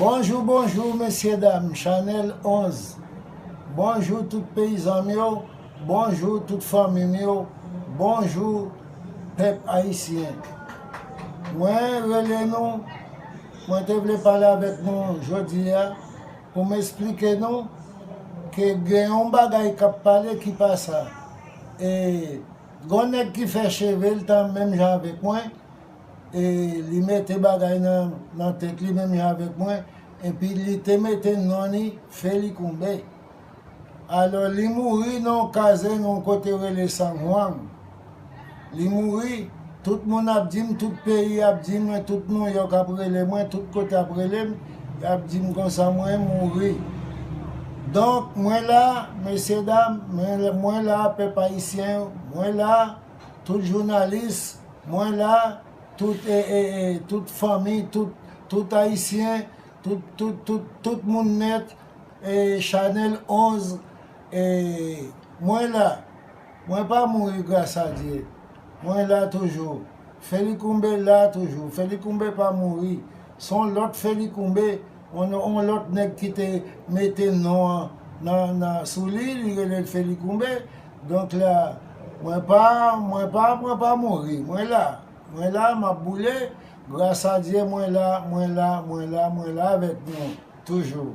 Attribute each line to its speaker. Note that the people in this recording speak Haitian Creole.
Speaker 1: Bonjou bonjou mesye dam chanel 11 bonjou tout peyizanm yo bonjou tout fanmim yo bonjou pèp ayisyen mwen rele nou mwen te vle pale avèk nou jodi a pou m esplike nou ke gen yon bagay kap pale ki pa sa e gon nèg ki fè chevel tan menm jan avèk mwen e li mete bagay nan tèt li menm jan avèk mwen, epi li te mete non li Felikunbe. Alò, li mouri nan yon kazenn yon kote yo rele Sanhuang. Li mouri, tout moun ap di m, tout peyi ap di mwen, tout Nouyòk ap rele mwen, tout kote ap rele m, y ap di m konsa mwen mouri. Donk, mwen la, mesyedam, mwen la, pèp ayisyen yo, mwen la. Tout jounalis mwen la tout tout fanmi tout tout ayisyen tout tout tout tout moun nèt chanèl 11 mwen la mwen pa mouri gras a Dye mwen la toujou Felicoumbe la toujou Felicoumbe pa mouri son lòt Felicoumbe On lòt nèg ki te mete non an nan sou li, li rele l Felicoumbe. Donk la, mwen pa, mwen pa, mwen pa mouri. Mwen la. Mwen la, m ap boule. Gras a Dye, mwen la, mwen la, mwen la, mwen la avèk nou toujou.